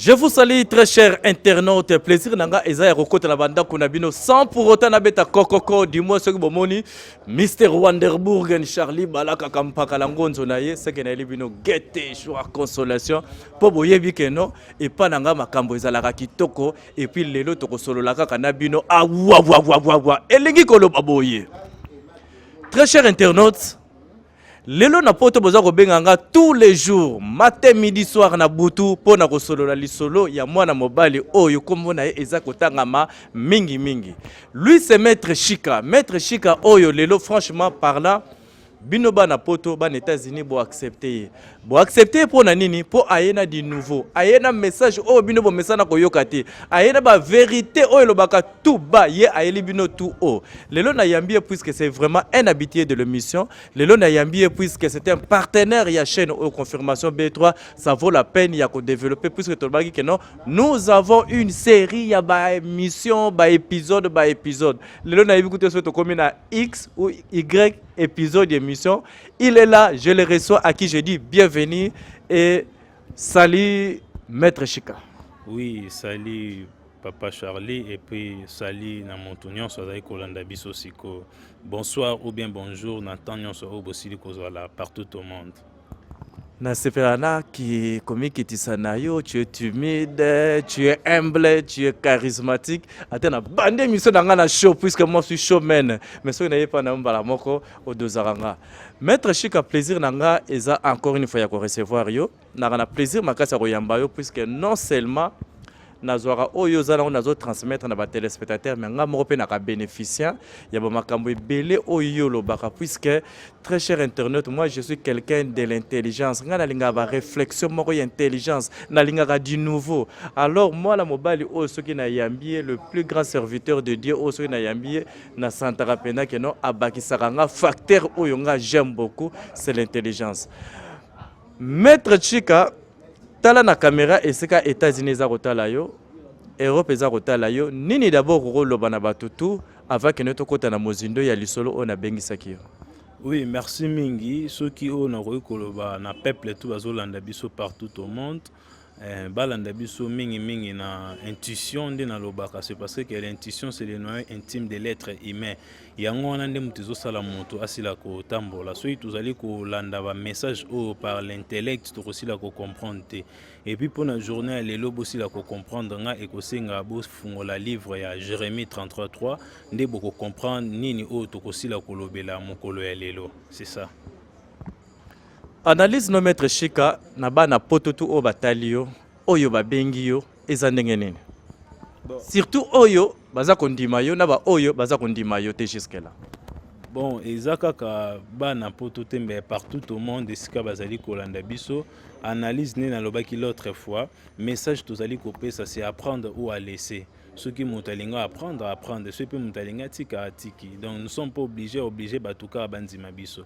Je vous salue très cher internaute. Plaisir nanga eza ya kokota na banda kuna bino sans pour autant na beta kokoko du moins soki bomoni Mr Wanderburgen Charlie Balaka kampaka la ngonzo na ye seke na bino gete joie consolation po boyebi ke no et pas nanga makambo ezalaka kitoko et puis lelo tokosolola kaka na bino ah wa wa wa wa elingi koloba boye Très cher internaute, lelo na poto boza kobenga nga tous les jours matin midi soir na butu mpo na kosolola lisolo ya mwana mobali oyo nkombo na ye eza kotangama mingi mingi lui c'est maître shika maître shika oyo lelo franchement parlant bino bana poto bana états-unis boaccepte ye Bo accepter mpo na nini? Mpo aye na du nouveau, aye na message oyo bino bomesana koyoka te, aye na ba verite oyo elobaka tout bas, ye ayeli bino tout haut. Lelo nayambi ye puisque c'est vraiment un habitué de l'émission. Lelo nayambi ye puisque c'est un partenaire ya chaîne oyo Confirmation B3, ça vaut la peine ya ko développer puisque tolobaki que non, nous avons une série ya ba émissions, ba épisodes, ba épisodes. Lelo nayebi kutu soki tokomi na X ou Y épisode d'émission. Il est là, je le reçois, à qui je dis bienvenue et salut Maître Chika. Oui, salut Papa Charlie et puis salut na moto nyonso azali kolanda biso siko. Bonsoir ou bien bonjour na temps nyonso oyo bosili kozwala partout au monde. nasepela na ki komikitisa na yo tu es timide tu es humble tu es charismatique ata na bande émission na ngai na show puisque moi suis showman mais soki naye epai na yo mbala moko odozaka nga maître shika plaisir na nga eza encore une fois ya korecevoir yo naka na plaisir makasi ya koyamba yo puisque non seulement nazwaka oyo oza nango nazo transmettre na batelespectateur me ngai moko mpe naka bénéficien ya bamakambo ebele oyo yo olobaka puisque très cher internaute moi je suis quelqu'un de l'intelligence ngai nalingaka baréflexion moko ya intelligence nalingaka du nouveau alors mwana mobali oyo soki nayambi ye le plus grand serviteur de dieu oyo soki nayambi ye na santaka pena ke non abakisaka nga facteur oyo nga j'aime beaucoup c'est l'intelligence maître chika tala na caméra esika états-unis eza kotala yo europe eza kotala yo nini d'abord okoloba na bato tout avant kende tokɔta na mozindo ya lisolo oyo nabengisaki yo oui merci mingi soki oyo nakoki koloba na peuple tout bazolanda biso partout au monde Eh, balanda biso mingi mingi na intuition nde nalobaka c'est parce que l'intuition c'est le noyau intime de l'être humain yango wana nde moto ezosala moto asila kotambola soki tozali kolanda bamessage oyo par l'intellect tokosila kocomprendre te epuis mpo na journée ya lelo bosila kocomprendre nga ekosenga bofungola livre ya jérémie 333 nde bokocomprendre nini oyo tokosila kolobela mokolo ya lelo c'est ça Analyse no maître Shika na bana poto tu oyo batali yo oyo babengi yo eza ndenge nini bon. surtout oyo baza kondima yo na baoyo baza kondima yo te jusque là bon eza kaka bana poto te mbe partout au monde esika bazali kolanda biso analyse nde nalobaki l'autre fois message tozali kopesa c'est apprendre ou à laisser soki moto alingi apprendre apprendre soki mpe moto alingi atika atiki donc nous sommes pas obligé obligé bato kaka bandima biso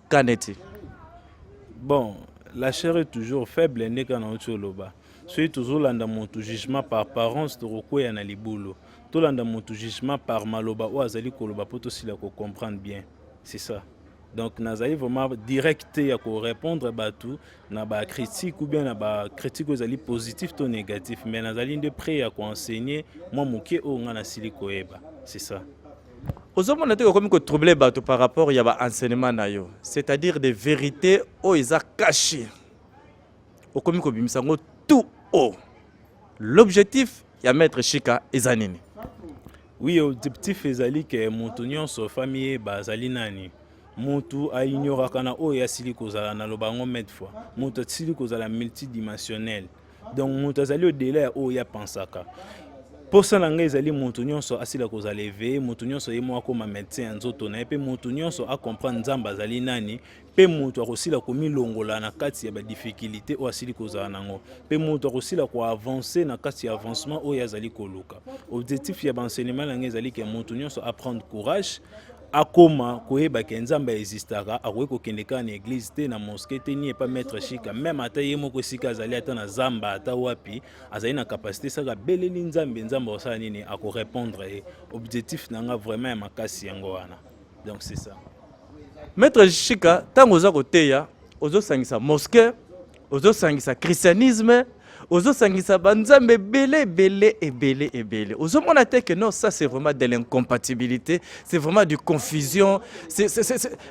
kaneti bon la chair est toujours faible nde kaka nauti oloba soki tozolanda motu jugement par parence tokokweya na libulu tolanda motu jugement par maloba oyo azali koloba mpo tosila kocomprendre bien c'est ça donc nazali vraiment direct te ya korépondre bato na bacritique ou bien na bacritique oyo ezali positif to négatif mais nazali nde près ya koenseigne mwa moke oyo ngai nasili koyeba c'est ça ozomona te okomi kotrouble bato par rapport ya baenseignement na yo c'est-à-dire des vérités oyo eza cache okomi kobimisa yango tout haut l'objectif ya maître shika eza nini oui objectif ezali ke moto nyonso fami ye bazali nani motu ainyoraka na oyo asili kozala naloba yango made fois moto asili kozala multidimensionnel donc moto azali odela ya oyo ye apansaka mposa na ngai ezali moto nyonso asila kozala eveye moto nyonso ye moko akoma medecin ya nzoto na ye mpe moto nyonso acomprendre nzambe azali nani mpe moto akosila komilongola na kati ya badiffikulté oyo asili kozala na yango mpe moto akosila koavanse na kati ya avancement oyo azali koluka objectif ya baenseignement na ngai ezali ke moto nyonso aprendre courage akoma koyeba ke nzambe aexistaka akoki kokende kaka na eglize te na moske te ni epa maître chika meme ata ye moko esika azali ata na zamba ata wapi azali na kapasité saka abeleli nzambe nzambe akosala nini akorepondre ye objectif na nga vraiment ya makasi yango wana donc c'est ça maître chika ntango oza koteya ozosangisa moske ozosangisa christianisme ozosangisa banzambe ebele ebele ebele ebele ozomona te que non ça c'est vraiment de l'incompatibilité c'est vraiment du confusion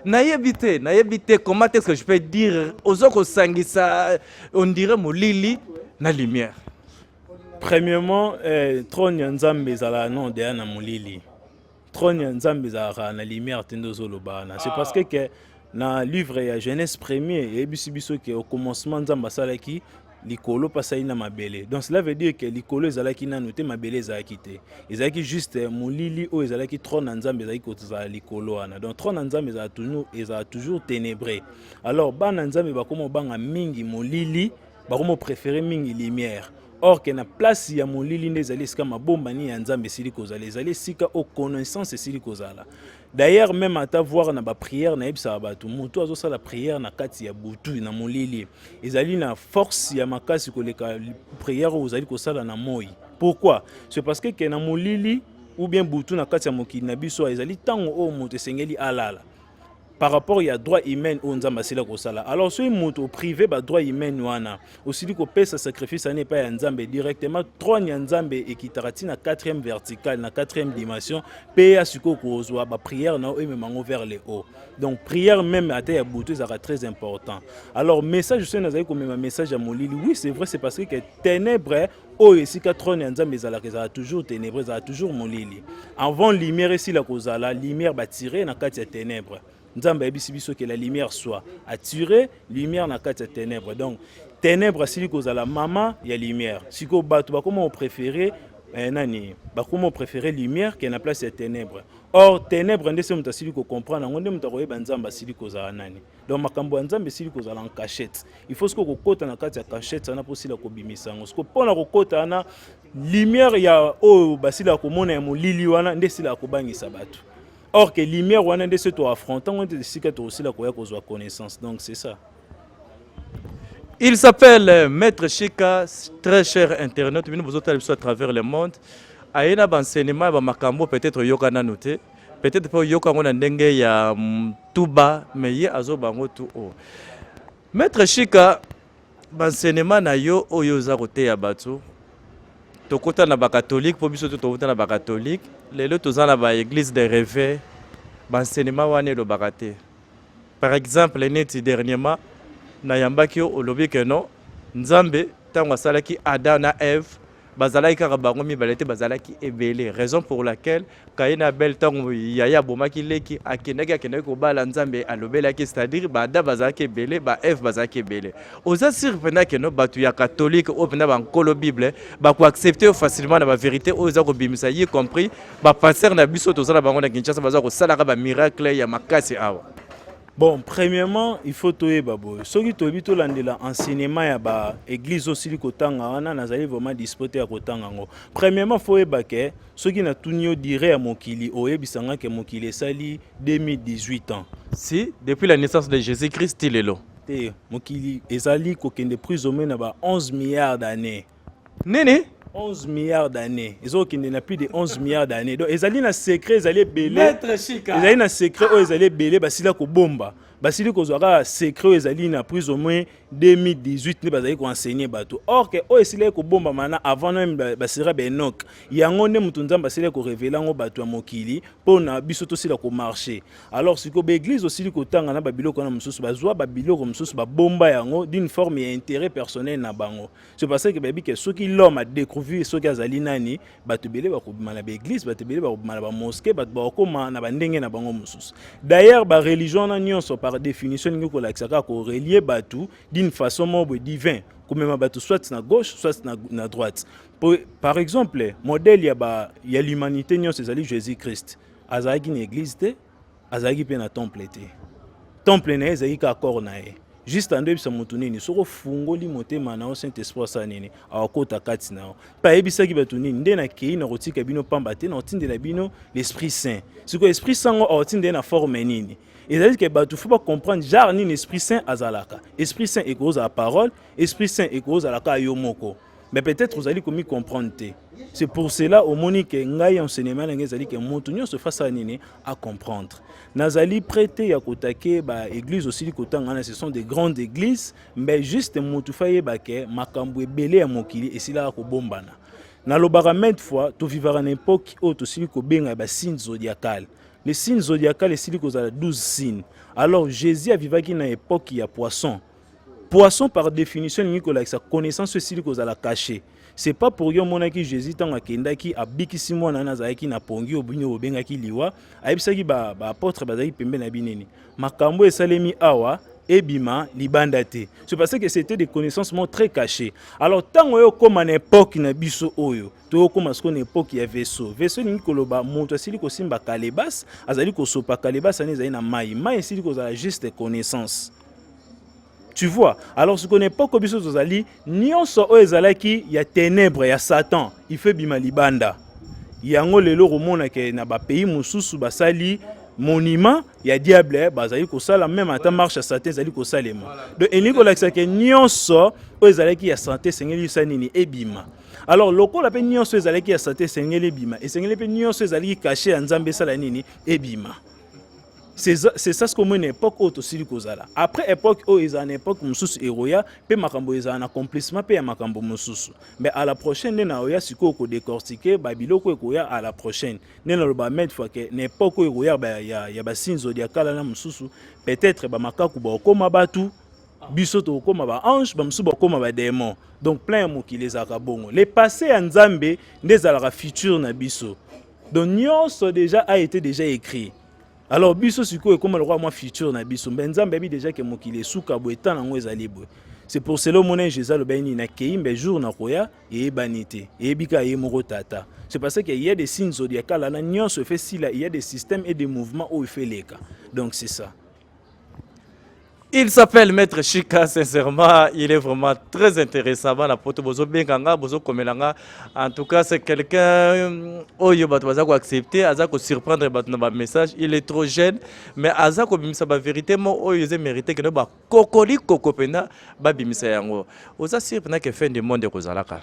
nayebi te nayebi te comment est-ce que je peux dire ozo kosangisa on dirait molili na lumière premièrement eh, trône ya nzambe ezalaka non deya na molili trône ya nzambe ezalaka na lumière te nde ozoloba wana c'est parce que ke na livre ya genèse premier eyebisi biso ke au commencement nzambe asalaki likolo mpe asali na mabele donc cela veut dire ke likolo ezalaki nano te mabele ezalaki te ezalaki juste molili oyo ezalaki trône na nzambe ezalaki kozala likolo wana donc trône na nzambe ezala ezala toujours ténébré alors bana nzambe bakoma obanga mingi molili bakomo prefere mingi lumière or que na place ya molili nde ezali esika mabombani ya nzambe esili kozala ezali esika oyo connaissance esili kozala d'ailleurs même ata voir na baprière nayebisaka bato motu azosala prière na kati ya butu na molili ezali na force ya makasi koleka prière oyo ozali kosala na moi pourquoi c'est parce que ke na molili ou bien butu na kati ya mokili na biso ezali ntango oyo moto esengeli alala par rapport ya droit humain oyo nzambe asila kosala alors soki moto oprive badroit humain wana osili kopesa sacrifice wana epai ya nzambe directement trone ya nzambe ekitaka ti na 4e verticale na 4e dimension mpe ya sikoyo kozwa baprière na yo emema yango vers le haut donc prière meme ata ya butu ezalaka très important alors message soki nazali komema message ya molili oui c'est vrai c'est parce que ténèbre oyo esika trone ya nzambe ezalaka ezala toujours ténèbre ezala toujours molili avant lumière esila kozala lumière batire na kati ya ténèbre nzambe ayebisi biso ke la lumière soit atire lumière na kati ya ténèbre donc ténèbre asili kozala mama ya lumière sikoyo bato bakoma opréféré eh, nani bakoma opréféré lumière ke na place ya ténèbre or ténèbre nde se moto asili kocomprendre yango nde moto akoyeba nzambe asili kozala nani donc makambo ya nzambe esili kozala en cachette il faut sikoyo kokota na kati ya cachette wana mposila kobimisa yango sikoyo mpo na kokota wana lumière ya oyo basila komona ya molili wana nde esila kobangisa bato or que lumière wana nde se toaffronta ngo nde esika tokosila koya kozwa connaissance donc c'est ça Il s'appelle euh, Maître Chika, très cher internaute, bino bozotala biso à travers le monde. Ayena ba enseignement ba makambo peut-être yokana note. peut-être mpe oyoka yango na ndenge ya tuba mais ye azoba yango tu o maître shika bansenema na yo oyo oza koteya bato tokota na bakatolike mpo biso to tokota na bakatolike lelo toza na baeglise de reve bansenema wana elobaka te par exemple neti dernièrement nayambaki yo olobi ke non nzambe ntango asalaki adam na eve bazalaki kaka bango mibale te bazalaki ebele raison pour laquelle kaye na abel ntango yaya abomaki leki akendaki akendaki kobala nzambe alobelaki c'est-à-dire baada bazalaki ebele ba eve bazalaki ebele oza sire mpenza keno bato ya katholike oyo mpenza bankolo bible bakoaccepte yo facilement na baverité oyo eza kobimisa y compris bapaster na biso tozala bango na kinshasa baza kosalaka bamiracle ya makasi awa Bon, premièrement, il faut toyeba boye. Soki toyebi tolandela enseignement ya ba église osili kotanga wana nazali vraiment dispoté ya kotanga yango. Premièrement, faut yeba ke soki natuni yo dire ya mokili oyebisa nga ke mokili esali 2018 ans. Si, depuis la naissance de Jésus-Christ ti lelo. Te, mokili ezali kokende plus ou moins na ba 11 milliards d'années. nini 11 milliards d'années ezokende na plus de 11 milliards d'années donc ezali na secret ezali ebele ezali na secret oyo ezali ebele basila kobomba basili kozwa kaka secret oyo ezali na prise au moins 2018 nde bazali koenseigne bato or ke oyo esilaki kobombama na avant meme basira baenok yango nde moto nzambe asilaki korevele yango bato ya mokili mpo na biso tosila komarche alors sikoyo baeglize osili kotanga na babiloko wana mosusu bazwa babiloko mosusu babomba yango d'une forme ya intérêt personnel na bango c'est parce que bayebi ke soki l'homme adecouvrir soki azali nani bato ebele bakobima na baeglise bato ebele bakobima na bamoske bato bakokoma na bandenge na bango mosusu d'ailleurs bareligion wana nyonso par définition elingi kolakisa kaka korelie bato d'une façon moko boye divin komema bato soit na gauche soit na, na droite po, par exemple modèle ya, ba, ya l'humanité nyonso ezali jésus christ azalaki na église te azalaki mpe na temple te temple na ye ezalaki kaka kore na ye juste ando yebisa moto nini soki ofungoli motema na yo saint esprit asala nini awakota kati na yo mpe ayebisaki bato nini nde nakei na kotika bino mpamba te na kotindela bino l'esprit saint sikoyo esprit saint yango akotinda ye na forme nini ezali ke bato fo bacomprendre genre nini esprit saint azalaka esprit saint ekozala parole esprit saint ekozala kaka yo moko mais peut-être ozali komi comprendre te c'est pour cela omoni ke ngai enseignement na ngai ezali ke moto nyonso efasa ya nini a comprendre nazali prete ya kotake baeglise osili kotanga wana ce sont des grandes églises mais juste moto fa yeba ke makambo ebele ya mokili esilaka kobombana nalobaka maintes fois tovivaka na epoke oyo tosili kobenga basine zodiacale le signe zodiacal esili kozala 12 signe alors jésus avivaki na epoke ya poisson poisson par définition elingi kolakisa connaissance esili kozala cache c'est pas pour yo omonaki jésus ntango akendaki abikisi mwana wana azalaki na pongi obino bobengaki liwa ayebisaki baapôtre ba bazalaki pembe na binini makambo oyo esalemi awa ebima libanda te c'est parce que c'était des connaissances mo très cachées alors ntango oyo okóma na epoke na biso oyo tokóma sikoyo na epoke ya vaisseau vaisseau elingi koloba moto asili kosimba kalebas azali kosopa kalebas wana ezali na mai mai esili kozala juste connaissance Tu vois Alors ce qu'on n'est pas kobiso tozali nyonso oyo ezalaki ya ténèbres ya Satan, il fait bima libanda. Yango lelo komona ke na ba pays mosusu basali monument ya diable bazali kosala meme ata marche ya sante ezali kosalema donc elingi kolakisa ke nyonso oyo ezalaki ya sante esengeli isa nini ebima alors lokola mpe nyonso ezalaki ya sante esengeli ebima esengeli mpe nyonso ezalaki kashe ya nzambe esala nini ebima c'est ça ce qu'on une époque oyo tosili kozala après époque oyo ezala na époque mosusu eroya mpe makambo ezala na complissement mpe ya makambo mosusu mais à la prochaine nde naoya sikoyo kodecortike babiloko ekoya à la prochaine nde naloba made fois ke na époque oyo ekoya ya, ya, ya basinzodi ya kala na mosusu peut-être bamakaku baokoma batu biso tokokoma baange bamosusu bakokoma bademon donc plein ya mokili ezalaka bongo le passé ya nzambe nde ezalaka future na biso donc nyonso déjà a été déjà écrit alors biso sikoyo ekoma lokola mwa future na biso mbe nzambe ayebi déjà ke mokili esuka boye ntan yango ezali boye c'est pour cela omonai jésus alobaki nini nakei mbe jour nakoya eyebani te eyebi kaka ye moko tata c'est parce que ya des signes zodiacal wana nyonso efe sila ya des systèmes et des mouvements oyo efe eleka donc c'est ça Il s'appelle Maître Chika, sincèrement, il est vraiment très intéressant. Bana poto bozo benganga, bozo komelanga. En tout cas, c'est quelqu'un euh, oyo bato baza ko accepter, aza ko surprendre bato na ba message. Il est trop jeune, mais aza ko bimisa ba vérité mo oyo eze mérité que ba kokoli kokopena ba bimisa yango. Oza sûr pena que fin du monde ekozalaka.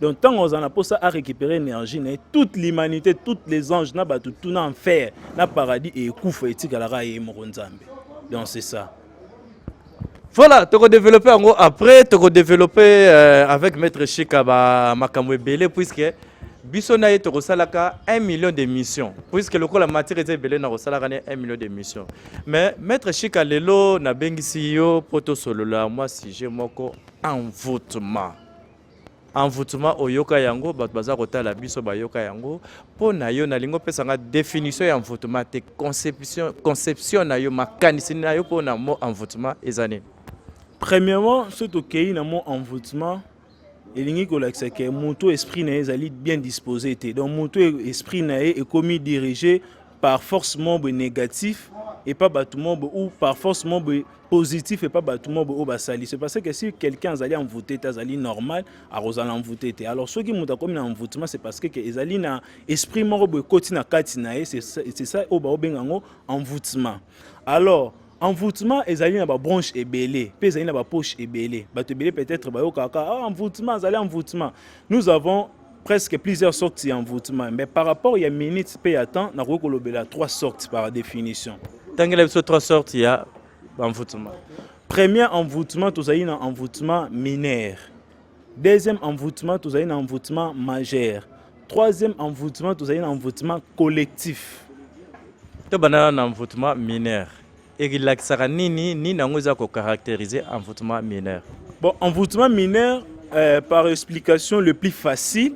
donc ntango azala na mposa a récupérer énergie na ye toute l'humanité toutes les anges na bato tuna enfer na paradis ekufa etikalaka ye moko nzambe donc c'est ça voilà toko développer yango après toko développer euh, avec maître shika ba makambo ebele puisque biso na ye tokosalaka 1 million d'émission puisque lokola matière eza ebele na kosalaka ne 1 million d'émission mais maître shika lelo nabengisi yo mpo tosolola mwa sujet moko envoûtement envoûtement oyoka yango bato baza kotala biso bayoka yango mpo na yo nalingi opesa nga définition ya envoûtement te conception, conception na yo makanisi na yo mpo na mot envoûtement eza nini premièrement soki tokei na mot envoûtement elingi kolakisa ke moto esprit na ye ezali bien disposé te donc moto esprit na ye ekomi dirige par force membre négatif epa bato membre ou par force membre positif epa bato mobo oyo basali se parce que si quelqu'un azali envoute te azali normal akozala envoute te alors soki moto akomi na envoutement c'est parce que ezali na esprit moko boye ekoti na kati na ye c'est ça oyo baobenga yango envoutement alors envoûtement ezali na babranche ebele mpe ezali na bapoche ebele bato ebele peut-être bayokaka ah, envoûtement azali envoûtement nous avons presque plusieurs sortes ya envoûtement mais par rapport ya minutes mpe ya temps nakoki kolobela trois sortes par définition tangela biso trois sortes ya envoûtement premier envoûtement tozali na envoûtement mineur deuxième envoûtement tozali na envoûtement majeur troisième envoûtement tozali na envoûtement collectif tobandana na envoûtement mineur Elakisaka nini? Nini yango eza ko caracteriser envoûtement mineur? Bon, envoûtement mineur euh, par explication le plus facile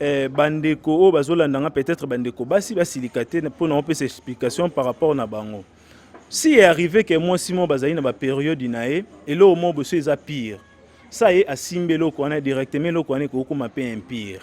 eh, bandeko oyo bazolanda nga peut-être bandeko basi basilika te mpo na opesa explication par rapport na bango si est arrivé ke mwasi moko bazali na baperiode na ye eloko moko boso eza pire sa ye asimbi eloko wana directement eloko wana ekokoma mpe impire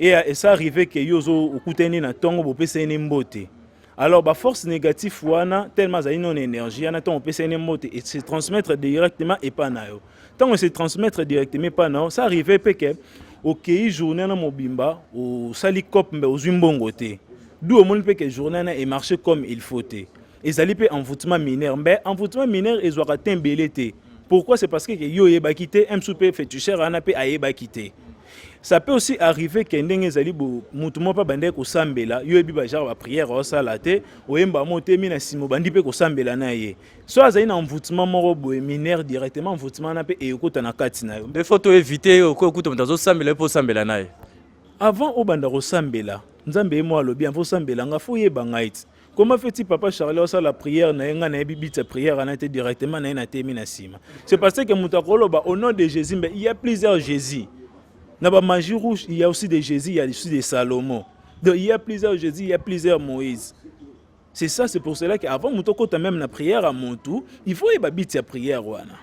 Et euh, ça arrive que yo ozo okutani na tongo bopesani ne mbote. Alors ba force négative wana tellement azali non énergie ana tongo opesani ne mbote et se transmettre directement epa na yo. Tango se transmettre directement epa na yo, ça arrive pe que okei journée na mobimba osali cop mbe ozwi mbongo te. D'où omoni pe que journée na e marche comme il faut te. ezali mpe envoûtement mineur mbe envoûtement mineur ezwaka te mbele te pourquoi c'est parce que yo oyebaki te msu mpe fetucher wana mpe ayebaki te ça peut aussi arriver ke ndenge ezali motu moko mpe abandaki kosambela yo oyebi bagenre baprière osala te oyemba mo otemi na nsima obandi mpe kosambela na ye so azali na envoûtement moko boye mineur directement envoûtement wana mpe eyokota na kati na yo nde fo toevite okoki okuta moto azosambela ye mpe osambela na ye avant obanda kosambela nzambe ye moko alobi avant osambela nga fo oyeba ngai ti Comment fait-il papa Charlie osa la prière na yenga na yebi bitsa prière ana te directement na yena temi na sima. C'est parce que muta koloba au nom de Jésus mais il y a plusieurs Jésus. Na ba magie rouge il y a aussi des Jésus, il y a aussi des Salomon. Donc il y a plusieurs Jésus, il y a plusieurs Moïse. C'est ça, c'est pour cela qu'avant muto kota même na prière à Montou, il faut yeba bitsa prière wana.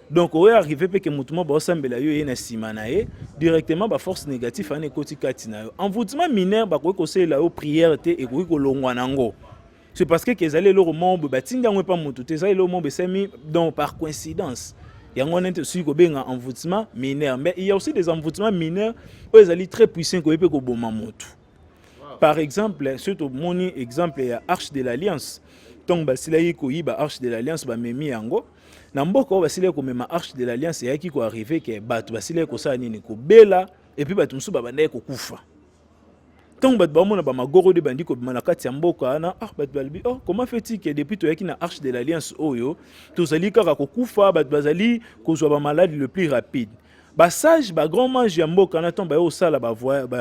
donc oyo arrive mpe ke motu moko baosambela yo ye na nsima na ye directement baforce négative ana ekoti kati na yo envoûtement mineur bakoki kosalela yo prière te ekoki kolongwa na yango c'est parce que ezali eloko moko boye batindi yango epa motu te ezali eloko moko besemi donc par coïncidence yango wana nte soki kobenga envoûtement mineur mais il y a aussi des envoûtements mineurs oyo ezali très puissant ekoki mpe koboma motu par exemple soki tomoni exemple ya arche de l'alliance ntango basilaki koyiba arche de l'alliance bamemi yango na mboka oyo basilaki komema arche de l'alliance eyaki koarrive ke bato basilaki kosala nini kobela epuis bato mosusu babandaki kokufa ntango bato baomona bamagorodi bandi kobima na kati ya mboka wana ah, bato balobi oh, comment fait-il que depuis toyaki na arche de l'alliance oyo tozali kaka kokufa bato bazali kozwa bamaladi le plus rapide basage bagrand mange ya mboka wana ntango baye kosala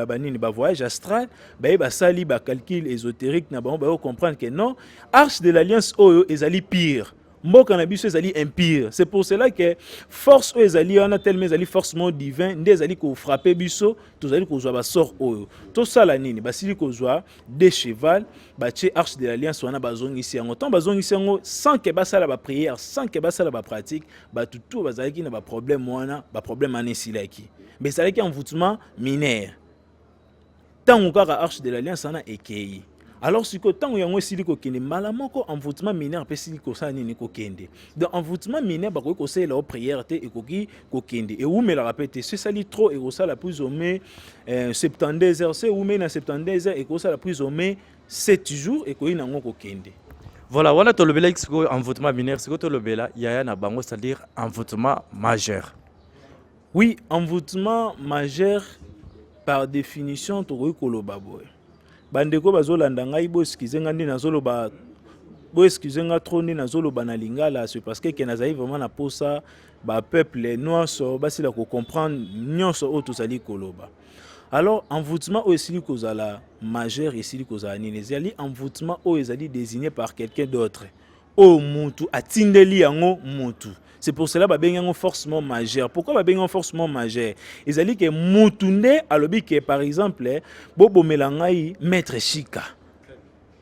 banini bavoyage astral baye basali bacalcule ésotérique na bango baye kocomprendre que non arche de l'alliance oyo ezali pire mboka na biso ezali impire c'est pour cela que force oyo ezali wana telema ezali force mo divin nde ezali kofrape biso tozali kozwa basort oyo tosala nini basili kozwa de cheval batie arche de l'alliance wana bazongisi yango ntango bazongisi yango sans ke basala baprière sans ke basala bapratique bato to bazalaki na baproblème wana baproblème wana esilaki mais ezalaki envoûtement minaire ntango kaka arche de l'alliance wana ekei alors sikoyo ntango yango esili kokende mbala moko envoûtement mineur mpe esili kosala nini kokende donc envoûtement mineur bakoki kosalela o prière te ekoki kokende ewumelaka mpe te so esali trop ekosala plus ou moins 72 euh, heures so ewumeli na 72 heures ekosala plus ou moins 7 jours ekoki na yango kokende voilà wana tolobelaki sikoyo envoûtement mineur sikoyo tolobela yaya na bango c'est-à-dire envoûtement majeur Oui, envoûtement majeur par définition tokoki koloba boye bandeko bazolanda ngai boeskize ngai nde nazoloba boeskize ngai trop nde nazoloba na lingala se parce que nazali vraiment na posa bapeuple nyonso basila kocomprendre nyonso oyo tozali koloba alors envoûtement oyo esili kozala majeur esili kozala nini ezali envoûtement oyo ezali désigné par quelqu'un d'autre oyo mutu atindeli yango mutu c'est pour cela babengi yango forcement majeur pourquoi babengi yango forcement majeur ezali ke mutu nde alobi ke par exemple bobomela ngai maître shika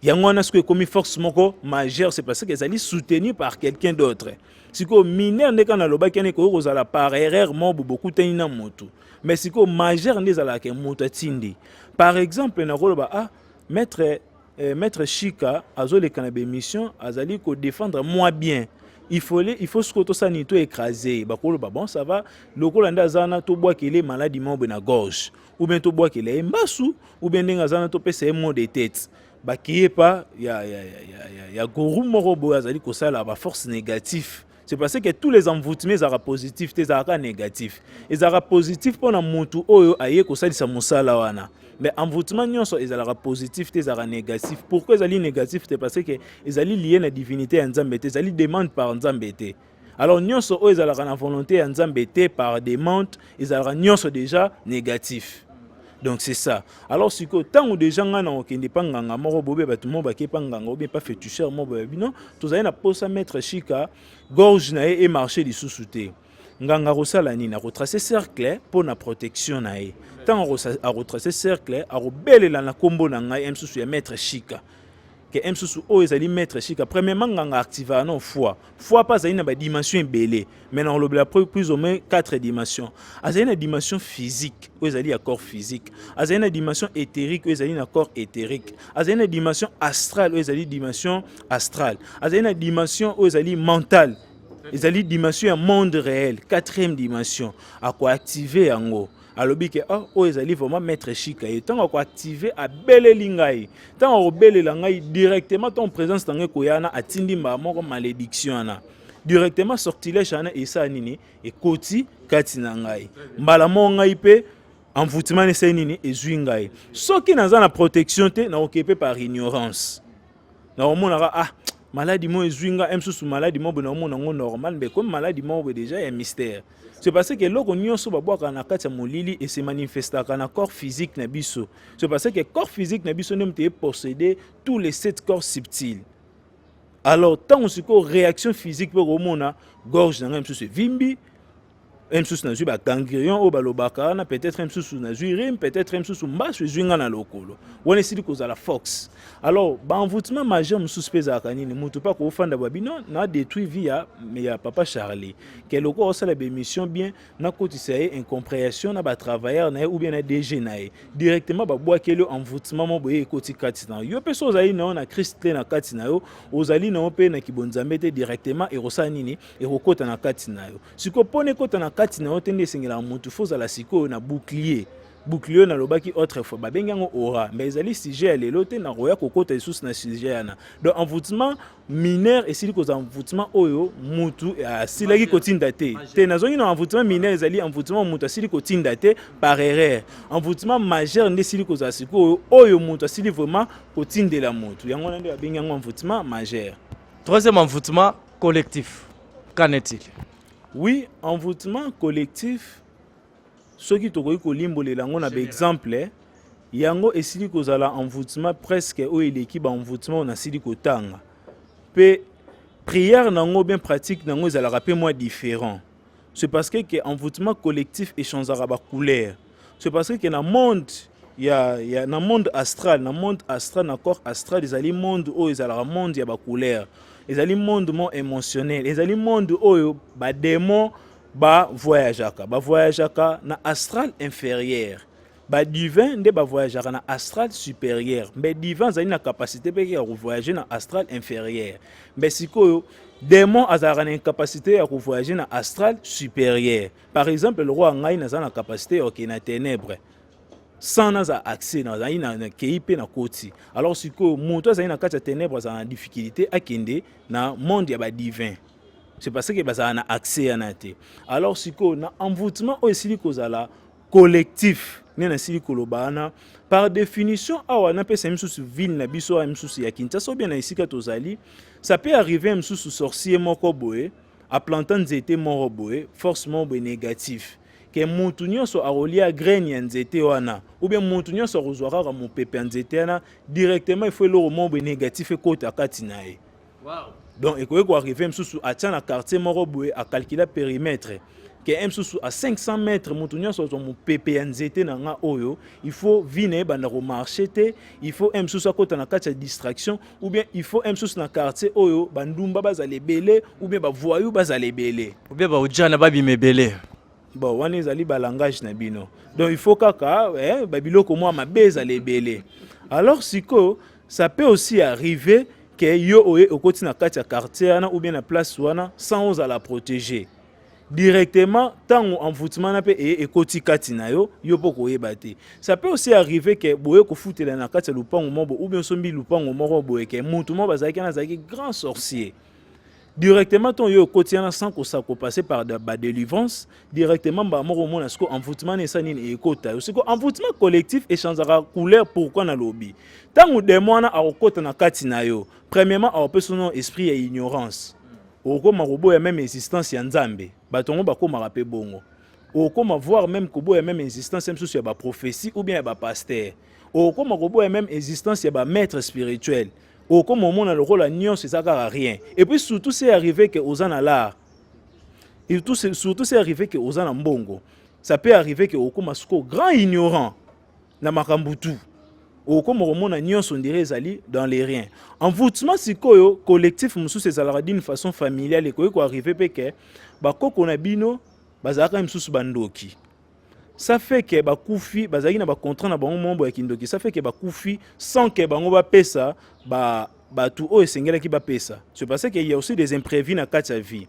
yango wana soki ekomi force moko majeur c'est parce que ezali soutenu par quelqu'un d'autre sikoyo mineur nde kaka nalobaki wana ekoki kozala par erreur mobo bokutani na motu mais sikoyo majeur nde ezalaka moto atindi par exemple nakoloba ah maître Eh, maître Shika azoleka na bemission azali ko défendre moi bien il faut les, il faut ce que ça ni tout écrasé bakolo ba bon ça va lokola nda zana to bois qu'il est malade mobe na gorge ou bien to bois qu'il est mbasu ou bien ndinga zana to pesa mot de tête ba qui est pas ya ya ya ya ya gourou morobo azali ko sala ba force négative c'est parce que tous les envoûtements ezalaka positif te ezalaka négatif ezalaka positif mpo na motu oyo aye kosalisa mosala wana mais envoûtement nyonso ezalaka positif te ezalaka négatif pourquoi ezali négatif te parce que ezali liye na divinité ya nzambe te ezali demande par nzambe te alors nyonso oyo ezalaka na volonté ya nzambe te par demande ezalaka nyonso déjà négatif donc c'est ça alors sikoyo ntango deja ngai na kokende mpa nganga moko bobe bato moko bake mpa nganga obie mpa fetucheur moko boye bino tozali na posa maître chika gorge na ye emarche lisusu te nganga akosala nini akotrace cercle mpo na protection na ye ntango akotrace cercle akobelela na nkombo na ngai ya mosusu ya maître chika ke m susu oyo ezali maître shika premièrement nganga activaka na foi foi mpe azali na badimension ebele mai na kolobela plus ou moins 4 dimension azali na dimension physique oyo ezali ya corps physique azali na dimension éthérique oyo ezali na corps éthérique azali na dimension astrale oyo ezali dimension astrale azali na dimension oyo ezali mentale ezali dimension ya monde réel quatrième dimension akoactive yango alobi ke oh, oyo ezali vraiment maître chika ye ntango akoactive abeleli ngai ntango akobelela ngai directement ntango présence na ngai koya wana atindi mbala moko malédiction wana directement sortilège wana esala nini ekoti kati na ngai mbala moko ngai mpe envoûtement esali nini ezwi ngai soki naza na protection te nakoki mpe par ignorance nakomonaka ah maladi moko ezwi ngai msusu maladi moko boye nakomona yango normal mbe komi maladi moko boye deja ya mystère c'est parce que eloko nyonso babwaka na kati ya molili ese manifestaka na corps physique na biso c'est parce que corps physique na biso nde moto epossede tous les sept corps subtile alors ntango sikoyo réaction physique mpe komona gorge na ngai mosusu evimbi mosusu nazwi baganglion oyo balobaka wana peut-être mosusu nazwi rime peut-être mosusu mbasu ezwi ngai na lokolo wana esili kozala fox alors baenvoutement majeur mosusu mpe ezalaka nini moto mpe akofanda babino na détruit vie ya, ya papa charlie ke lokola osala bemission bien nakotisa ye incomprehension na batravailleur na ye ou bien na dg na ye directement babwakeli yo envoutement mo boye ekoti kati na yo yo mpe so ozali na yo na krist te na kati na yo ozali na yo mpe na kibonzambe te directement ekosala nini ekokota na kati na yo sikoyo mpo na ekota na kati na yo te nde esengelaka motu fo ozala sikoyo na bouclier bouclier oyo nalobaki autrefois babengi yango aura mais ezali sujet ya lelo te nakoya kokota lisusu na sujet yana donc envoutement mineur esili kozala envoûtement oyo mutu eh, asilaki kotinda te te nazongi na envoûtement mineur ezali envoûtement mutu asili kotinda te par erreur envoûtement majeur nde esili kozala sikoyo oyo mutu asili vraiment kotindela mutu yango wana nde babengi yango envoûtement majeur troisième envoûtement collectif qu'en est-il oui envoûtement collectif soki tokoki kolimbolela yango na baexemple yango esili kozala envoûtement presque oyo eleki baenvoûtement oyo nasili kotanga mpe prière na yango bien pratique na yango ezalaka mpe mwa différent c'est parce que ke envoûtement collectif echangeaka bacouleur c'est parce que na monde ya, ya na monde astral na monde astral na corps astral ezali monde oyo ezalaka monde ya bacouleur ezali monde mo émotionnel ezali monde oyo bademon ba voyageaka ba voyageaka na astral inférieur ba divin nde ba voyageaka na astral supérieur mbe divin azali na capacité mpe ya kovoyage na astral inférieur mbe sikoyo demon azalaka na incapacité ya kovoyage na astral supérieur par exemple lokola ngai naza na capacité ya okei na ténèbre sans naza accès nazali nakei mpe na koti alors sikoyo moto azali na kati ya ténèbre azala na difficulté akende na monde ya badivin c'est parce que bazala na accès yana te alors sikoyo na envoûtement oyo esili kozala collectif nde nasili koloba wana par définition awa napesa misusu ville na biso awa misusu ya kinshasa obie na esika tozali ça peut arriver misusu sorcier moko boye aplanta nzete moko boye force moko boye négatif ke mutu nyonso akolia graine ya nzete wana oubien mutu nyonso akozwa kaka mopepe ya nzete wana directement ifo eloko moko boye négatif ekota kati na ye donc ekoki koarrive mosusu atya na quartier moko boye akalkula périmètre ke ye mosusu a 500 mètre moto nyonso azwa mopepe ya nzete na nga oyo il faut vie na ye banda komarche te il faut ye mosusu akota na kati ya distraction ou bien il faut ye mosusu na quartier oyo bandumba bazala ebele ou bien bavoyou bazala ebele ou bien baojana babima ebele bon wana ezali balangage na bino donc il faut kaka eh, babiloko mwa mabe ezala ebele alors sikoyo Ça peut aussi arriver que yo oye okoti na kati ya quartier wana ou bien na place wana sans ozala protéger directement ntango envoûtement na mpe eye ekoti kati na yo yo mpo koyeba te ça peut aussi arriver ke boye kofutela na kati ya lopango moko ou bien osombi lopango moko boye ke motu moko bazalaki wana azalaki grand sorcier directement ntongo yo okoti wana sans kosako passe par badelivrance directement mbala moko omona siko envoûtement na esa nini ekota yo siko envoûtement collectif echangeaka couleur pourquoi nalobi ntango demo wana akokota na kati na yo premièrement akopesa no esprit ya ignorance okokoma koboya meme existence ya nzambe bato yango bakomaka mpe bongo okokoma voir meme koboya meme existence ya mosusu ya baprophétie ou bien ya bapaster okokoma koboya meme existence ya bamaître spirituel ba okoma omona lokola nyonso eza kaka rien et puis surtout c'est arrivé que oza na l'art et tout surtout c'est arrivé que oza na mbongo ça peut arriver que okoma siko grand ignorant na makambo tout okoma komona nyonso ndire ezali dans les riens envoûtement sikoyo collectif mosusu ezalaka d'une façon familiale ekoki koarrive mpe ke bakoko na bino bazalaka misusu bandoki ça fait que bakufi bazalaki na bacontrat na bango mombo ya kindoki ça fait que bakufi sans que bango bapesa ba bato oyo esengelaki bapesa c'est parce que ya aussi des imprévus na kati ya vie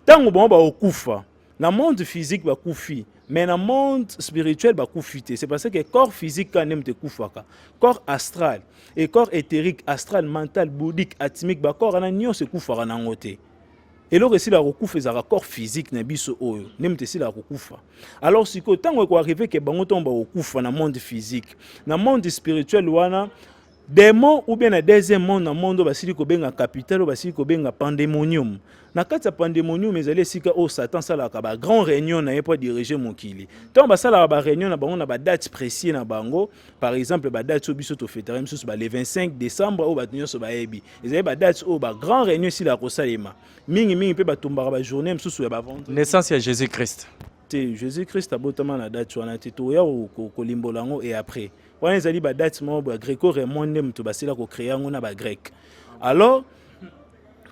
ntango bango bakokufa na monde physique bakufi mais na monde spirituel bakufi te c'est parce que corps physique kaka nde moto ekufaka corps astral et corps éthérique astral mental boudique atmique bacorps wana nyonso ekufaka nango te eloko esilaka kokufa ezalaka corps physique na biso oyo nde moto esilaka kokufa alors sikoyo ntango ekoarrive ke bango ntango bakokufa na monde physique na monde spirituel wana demon ou bien na deuxième monde na monde oyo basili kobenga capital oyo basili kobenga pandemonium na kati ya pandemonium ezali esika oyo satan asalaka ba grand réunion na ye mpo adirige mokili ntango basalaka ba réunion na bango na badate précieux na bango par exemple badate oyo biso tofetaka misusu ba le 25 décembre oyo bato nyonso bayebi ezali badate oyo bagrand réunion esilaka kosalema mingimingi mpe batumbaka bajournée mosusu ya bavente naissance ya jésus christ te jésus christ abotama na date wana te toya kolimbola yango e après wana ezali badate moko ba greco raymond nde moto basila kocreye yango na bagreke alors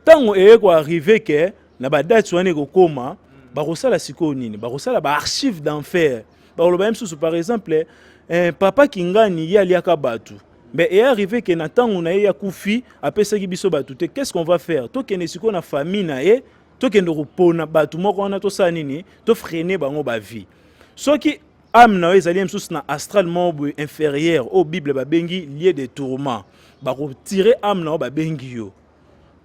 ntango eye koarrive ke na badate wana ekokoma bakosala sikoyo nini bakosala baarchive d'enfer bakoloba ye mosusu par exemple eh, papa kingani ye aliaka bato mais est arrivé que na tango na ye akufi apesaki biso bato te qu'est-ce qu'on va faire tokende sikoyo na famille na ye tokende kopona bato moko wana tosala nini tofrene bango bavie soki ame na yo ezali mosusu na astral moko boye inférieure oyo bible babengi lieu de tourment bakotire ame na yo babengi yo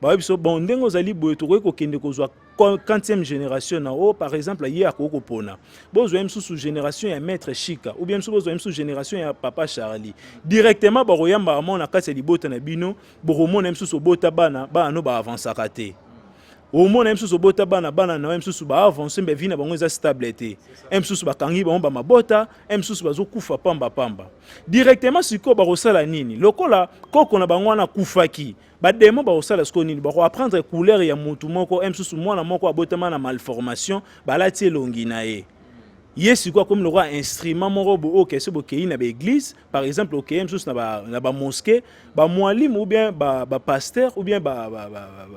baye biso bon ndenge ozali boye tokoki kokende kozwa 40e génération na o par exemple ye akoki kopona bozwa ye mosusu génération ya maître chika ou bien mosusu bozwa ye mosusu génération ya papa charlie directement bakoyambaka mwana na kati ya libota na bino bokomona ye mosusu obota bana bana no baavansaka te omona ye mosusu obota bana bana na ye mosusu baavance mbe vi na bango eza stable te ye mosusu bakangi bango bamabota ye mosusu bazokufa pamba pamba directement sikoyo bakosala nini lokola koko na bango wana akufaki bademo bakosala sikoyo nini bakoapprendre couleur ya motu moko ye mosusu mwana moko abotama na malformation balati elongi na ye ye sikoyo akomi lokola instrument moko bookese bokei na baeglise par exemple okeye mosusu na bamoske bamwalimu ou bien bapasteur ou bien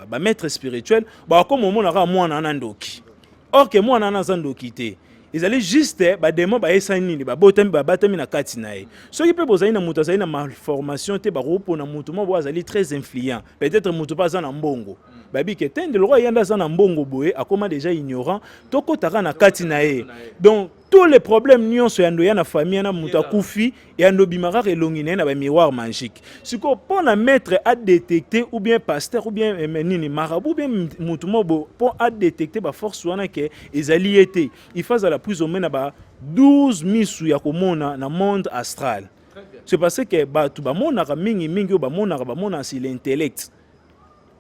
bamaître spirituel bakoma omona kaka mwana wana ndoki or ke mwana wana aza ndoki te ezali juste bademo bayesani nini babotami babatami na kati na ye soki mpe bozali na moto azali na malformation te bakopona moto moko boye azali très influent peut-être moto mpe aza na mbongo bayebi ke te nde lokola ye nde aza na mbongo boye akoma deja ignorant tokotaka na kati na ye donc tous les problèmes nyonso ya ndoya na famille na moto akufi ya ndo bima kaka elongi na ye na ba miroir magique sikoyo mpo na maître adetecte ou bien pasteur ou bien eh, nini marabu ou bien moto mobo mpo adetecte baforce wana ke ezali ye te il faut azala plus omai na ba 12 misu ya komona na monde astral c'est parce que bato bamonaka mingi mingi oyo bamonaka bamonaka si l'intellect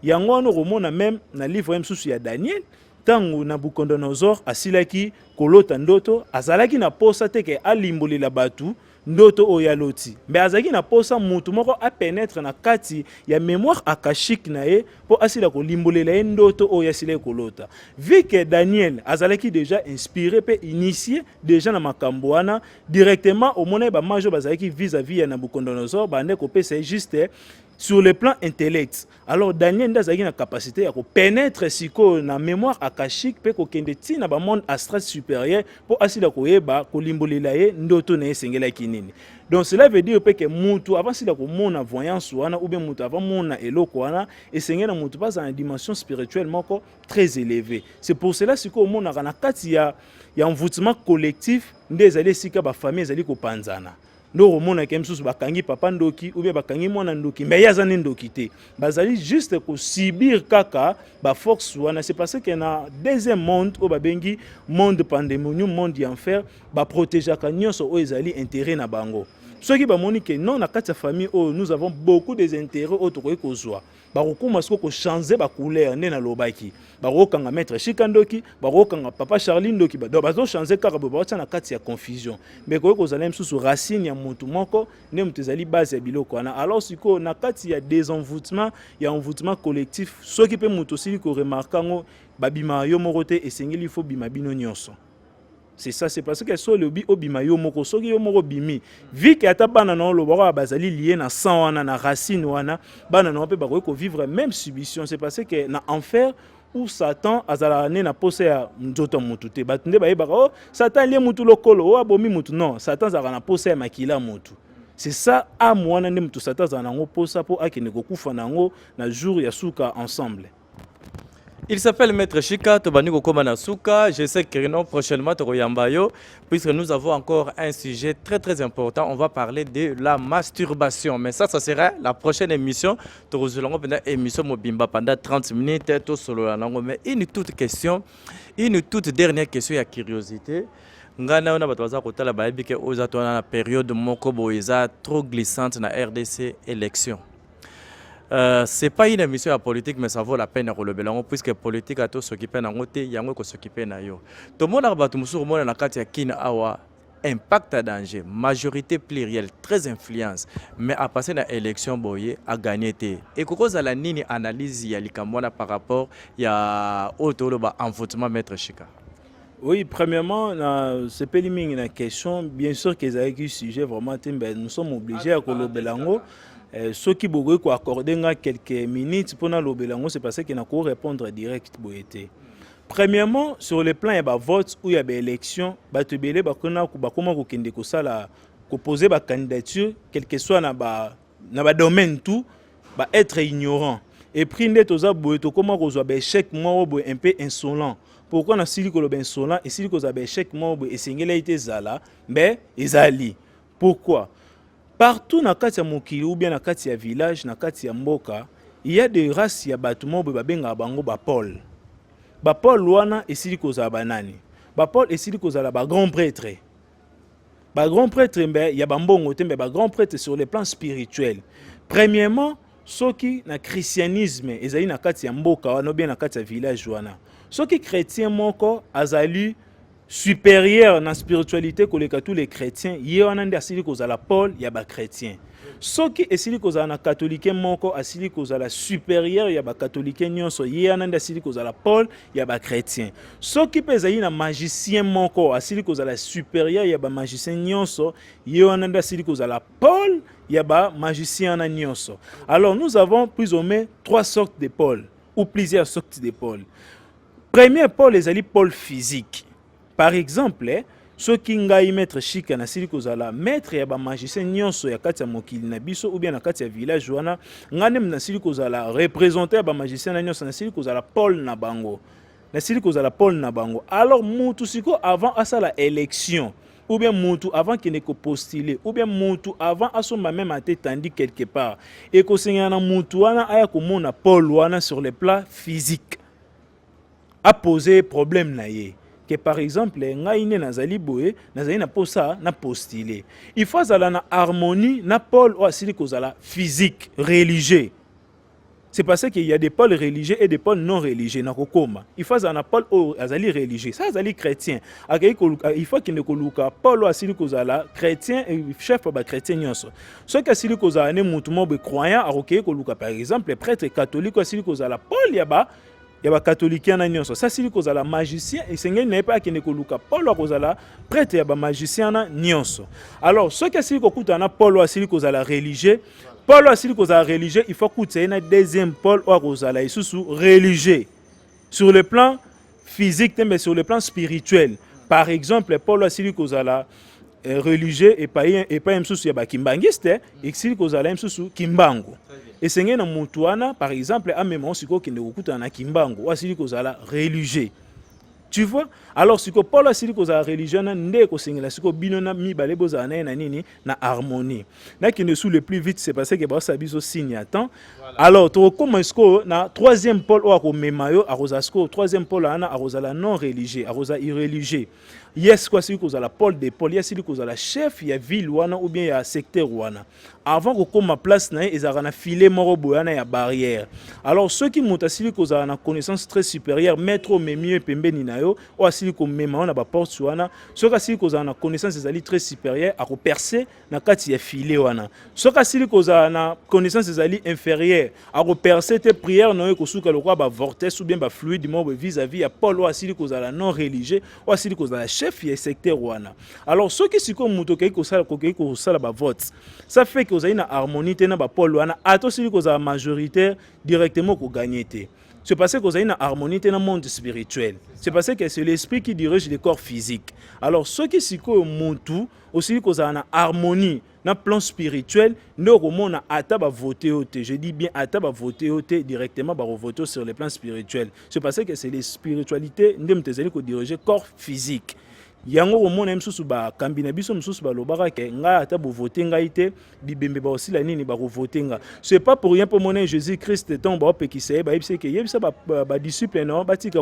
yango wana okomona meme na livre ya mosusu ya daniel ntango nabukodonozor asilaki kolota ndoto azalaki na posa te ke alimbolela bato ndoto oyo aloti mbe azalaki na posa motu moko apenetre na kati ya mémoire akashike na ye mpo asila kolimbolela ye ndoto oyo asilaki kolota vu que daniel azalaki déjà inspiré mpe initie déjà na makambo wana directement omonaki bamage oyo bazalaki vis-à-vis ya nabucodonosor bande kopesa ye juste sur le plan intellect alors daniel nde azalaki na capacité ya kopénètre sikoyo na mémoire akashique mpe kokende ti na bamonde astral supérieur mpo asila koyeba kolimbolela ye ndoto na ye esengelaki nini donc cela veut dire mpe ke mutu avant sila komona voyance wana ou bien mutu avant mona eloko wana esengeli na mutu bazala na dimension spirituelle moko très élevée c'est pour cela sikoyo omonaka na kati ya, ya envoûtement collectif nde ezali esika bafamille ezali kopanzana nde okomonaka ye mosusu bakangi papa ndoki oubien bakangi mwana ndoki mais ye aza nde ndoki te bazali juste kosubir kaka baforce wana c'est parce que na deuxième monde oyo babengi monde pandemonium monde ya enfer baprotegeaka nyonso oyo ezali intérêt na bango soki bamoni ke non na kati ya famille oyo nous avons beaucoup des intérêts oyo tokoki kozwa bakokoma siko kochange bacouleur nde nalobaki bakokanga maître shika ndoki bakokanga papa charli ndoki donc bazochange kaka boye baotya na kati ya confusion me koki kozala mosusu racine ya motu moko nde moto ezali base ya biloko wana alors sikoyo na kati ya desenvoutement ya envoutement collectif soki mpe moto osili koremarke yango babima yo moko te esengeli fo bima bino nyonso c'est ça c'est parce que so olobi obima yo moko soki yo moko obimi vi ke ata bana na oloba kaka bazali lie na sang wana na racine wana bana na yo mpe bakoki kovivre même subission c'est parce que na enfer ou satan azalaka nde na mposa ya nzoto ya motu te bato nde bayebaka o oh, satan alie motu lokolo o oh, abomi motu non satan azalaka na mposa ya makila ya motu c'est ça ame wana nde motu satan azala na yango mposa mpo akende kokufa na yango na jour ya suka ensemble Il s'appelle Maître Chika, Tobani Kokoma Nasuka. Je sais que non, prochainement, Toko Yambayo, puisque nous avons encore un sujet très très important. On va parler de la masturbation. Mais ça, ça sera la prochaine émission. Toko Zulongo, pendant émission Mobimba, pendant 30 minutes, tout solo la langue. Mais une toute question, une toute dernière question, il y a curiosité. ngai nayo na bato baza kotala bayebi ke oyo eza to wana na periode moko boye eza trop glissante na rdc élection Euh, c'est pas une émission ya politique mais ça vaut la peine ya kolobela yango puisque politique ata osokipe na yango te yango ekosokipe na yo tomonaka bato mosusu komona na kati ya kina awa impact à danger majorité plurielle très influence mais à passer na élection boye a gagné te ekokozala nini analyse ya likambo wana par rapport ya oyo toloba envotement maître chika Oui, premièrement, na sepeli mingi na question, bien sûr que ezalaki sujet vraiment te, mais nous sommes obligés ya kolobela yango. Eh, soki bokoki ko accorder nga quelques minutes mpo nalobela yango, c'est parce que nako répondre direct boye te. Premièrement, sur le plan ya ba votes ou ya ba élections, bato ebele bakona bakoma kokende kosala ko poser ba candidature, quel que soit na ba na ba domaine tout ba être ignorant et puis nde toza boye tokoma kozwa ba échec moko boye un peu insolent pourquoi na sili koloba insolent esili kozwa ba échec moko boye esengelaki te ezala mais ezali pourquoi partout na kati ya mokili ou bien na kati ya village na kati ya mboka il y a des races ya bato moko boye babengaka bango ba pole ba pole wana esili kozala banani ba pole esili kozala ba grand prêtre ba grand prêtre mbe ya ba mbongo te mbe ba grand prêtre sur le plan spirituel premièrement soki na christianisme ezali na kati ya mboka wana obie na kati ya village wana soki chrétien moko azali supérieur na spiritualité koleka tous les chrétiens ye wana nde asili kozala pole ya bachrétien soki esili kozala na katolike moko asili kozala supérieur ya bakatolike nyonso ye wana nde asili kozala pole ya ba chrétien soki mpe ezali na magicien moko asili kozala supérieur ya ba magicien nyonso ye wana nde asili kozala pole ya ba magicien wana nyonso alors nous avons plus ou moins trois sortes de pole ou plusieurs sortes de pole premier pole ezali pole physique par exemple soki ngai maître shika nasili kozala maître ya bamagicien nyonso ya kati ya mokili na biso ou bien na kati ya village wana ngai nde nasili kozala représentant ya bamagicien na nyonso nasili kozala pole na bango nasili kozala pole na bango alors mutu sikoyo avant asala élection ou bien mutu avant kende kopostule ou bien mutu avant asomba meme ate tandi quelque part ekosengela na mutu wana aya komona pole wana sur le plat physique a poser problème na ye que par exemple ngai nde nazali boye nazali na posa na postile il faut azala na harmonie na pole oyo asili kozala physique religieux c'est parce qu'il y a des pôles religieux et des pôles non religieux na kokoma il faut azala na pôle oyo azali religieux sa azali chrétien akei il faut akende koluka pôle oyo asili kozala chrétien chef ya bachrétien nyonso soki asili kozala ne motu moko boye croyant akokei koluka par exemple prêtre catholique oyo asili kozala pôle ya ba ya bakatolikia na nyonso asili kozala magicien esengeli na ye mpe akende koluka polo akozala prete ya bamagicien wana nyonso alors soki asili kokutana na polo asili kozala religieux polo asili kozala religieux il faut akutisa ye na deuxième pole oyo akozala lisusu religieux sur le plan physique te mais sur le plan spirituel par exemple polo asili kozala eh, religieux epai epai mosusu ya bakimbanguiste esili kozala mosusu kimbangu esengeli na motu wana par exemple amema osikoyo okende kokutana na kimbangu asili kozala religieux tu vois alors siko paul asili kozala religion na nde ekosengela siko bino na mibale bozala na ye na nini na harmonie nakende sous le plus vite c'est parce que baosala biso signe ya temps voilà. alors tokokoma sikoyo na troisième pole oyo akomema yo akozala sikoyo troisième pole wana akozala non religieux akozala irreligieux ye sikoyo asili kozala pole de pole ye asili kozala chef ya ville wana ou bien ya secteur wana avant kokóma place na ye ezalaka na filet moko boye wana ya barrière alors soki moto asili kozala na connaissance très supérieure maître omemi ye pembeni na yo oyo asili komema yo na baporte wana soki asili kozala na connaissance ezali très supérieure akoperce na kati ya filet wana soki asili kozala na connaissance ezali inférieure akoperce te prière na yo ekosuka lokola bavortes ou bien bafluide moko vis-à-vis ya paul oyo asili kozala non religieux oyo asili kozala chef ya secteur wana alors soki sikoyo moto okei kosala kokei kosala bavote ça fait ke ozali na harmonie te na bapaul wana ata osili kozala majoritaire directement kogagne te c'est parce que ozali na harmonie te na monde spirituel c'est parce que c'est l'esprit qui dirige le corps physique alors soki sikoyo motu osili kozala na harmonie na plan spirituel nde okomona ata bavote yo te je dis bien ata bavote yo te directement bakovote sur le plan spirituel c'est parce que c'est les spiritualité nde moto ezali kodirige corps physique yango okomona ye mosusu bakambi na biso mosusu balobaka ke ngai ata bovote ngai te bibembe bakosila nini bakovote nga ce pas pour rien mpo mona jésus christ ntango baopekisa ye bayebisa ke yebisa badisciple na yo batika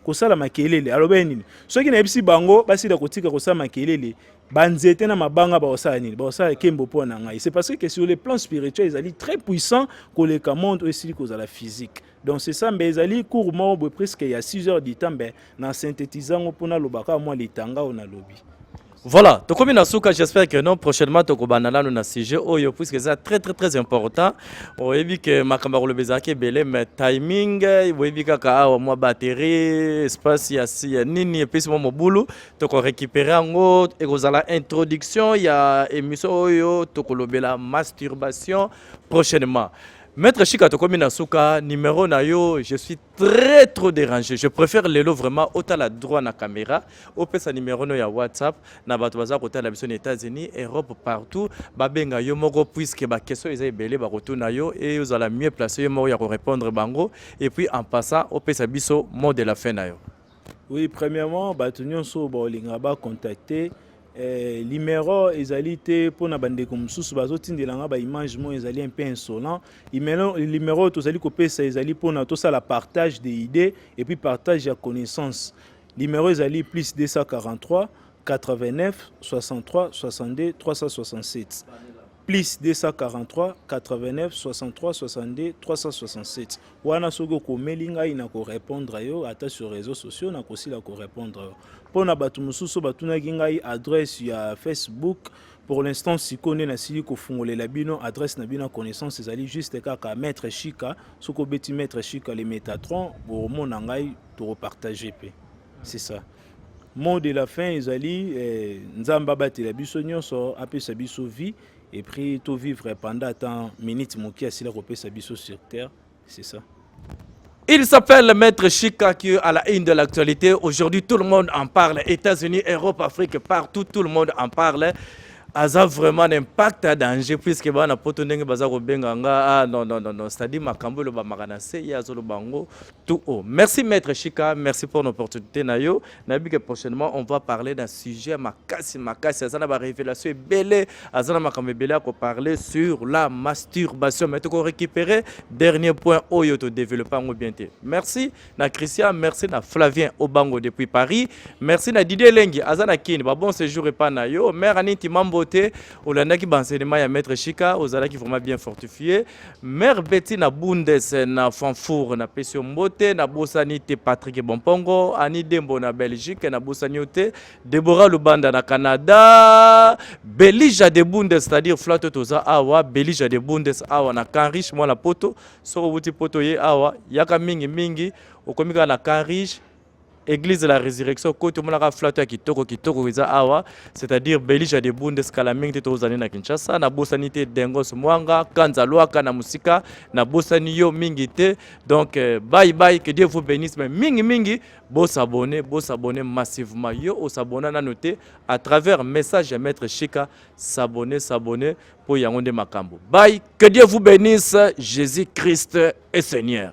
kosala makelele aloba ye nini soki nayebisi bango basila kotika kosala makelele banzete na mabanga bakosala nini bakosala kembo mpo na ngai c'est parce que sur le plan spirituel ezali très puissant koleka monde oyo esili kozala physique donc c'est ça mbe ezali cour moko boye presque ya 6 heures du temps mbe na synthétise yango mpo naloba kaka mwa litanga oyo nalobi Voilà, tokomi na suka, j'espère que non prochainement tokobanda nanu na sujet oyo puisque c'est très très très important. Oyebi que makamba koloba ezalaki ebele mais timing oyebi kaka awa mwa batterie, espace ya ya nini epesi mwa mobulu, toko récupérer yango ekozala introduction ya émission oyo tokolobela masturbation prochainement. Maître Chika tokomi na suka, numéro na yo, je suis très trop dérangé je préfère lelo vraiment otala droit na caméra opesa numéro no ya whatsapp na bato baza kotala biso na états-unis europe partout babenga yo moko puisque baquestion eza ebele bakotuna yo e ozala mieux place yo moko ya korépondre bango et puis en passant opesa biso mot de la fin na yo Oui, premièrement, bato nyonso baolinga ba contacter eh, limero ezali te mpo na bandeko mosusu bazotindela nga baimage moko ezali un peu insolent limero, limero oyo tozali kopesa ezali mpo na tosala partage de idée et puis partage ya connaissance limero ezali plus 243 89 63 62 367 plus 243 89 63 62 367 wana soki okomeli ngai na korepondre yo ata sur réseau sociaux nakosila korepondre yo mpo na bato mosusu batunaki ngai adresse ya facebook pour l'instant sikoyo nde nasili kofungolela bino adresse na bino ya connaissance ezali juste kaka maître chika soki obeti maître chika le métatron omona ngai tokopartage mpe C'est ça. Mot de la fin ezali eh, Nzambe abatela biso nyonso apesa biso vie et puis to vivre pendant tant minute moki asila kopesa biso sur terre. C'est ça. Il s'appelle Maître Chika qui est à la une de l'actualité. Aujourd'hui, tout le monde en parle. États-Unis, Europe, Afrique, partout, tout le monde en parle. aza vraiment un impact ya danger puisque bana poto ndenge baza kobenga nga ah, non, non, non, non. c'est-à-dire makambo elobamaka na se ye azoloba yango tout haut. Merci Maître Chika, merci pour l'opportunité Nayo. Nabi que prochainement on va parler d'un sujet makasi makasi azana ba révélation belé azana makambe belé à parler sur la masturbation. Mais tu ko récupérer dernier point oyo to développer en bien te. Merci na Christian, merci na Flavien Obango depuis Paris. Merci na Didier Lengi azana kin ba bon séjour et pas Nayo. Mère Aniti Mambote, olandaki ba enseignement ya Maître Chika, ozalaki vraiment bien fortifié. Mère Betty na Bundes na Fanfour na pesi mbote na bosani te Patrick Bompongo Ani Dembo na Belgique na bosani te Deborah Lubanda na Canada Belija de Bundes c'est-à-dire Flato toza awa Belija de Bundes awa na Canrich mwana poto soko buti poto ye awa yaka mingi mingi okomi kaka na Canrich Église de la Résurrection ko to monaka flato ya kitoko kitoko eza awa c'est-à-dire Belija de Bunde skala mingi te tozali na Kinshasa na bosani te Dengos Mwanga Kanza Luaka na musika na bosani yo mingi te donc euh, bye bye que Dieu vous bénisse mais mingi mingi bo s'abonner bo s'abonner massivement yo o s'abonner na note à travers message ya maître Chika s'abonner s'abonner pour yango nde makambo bye que Dieu vous bénisse Jésus Christ est Seigneur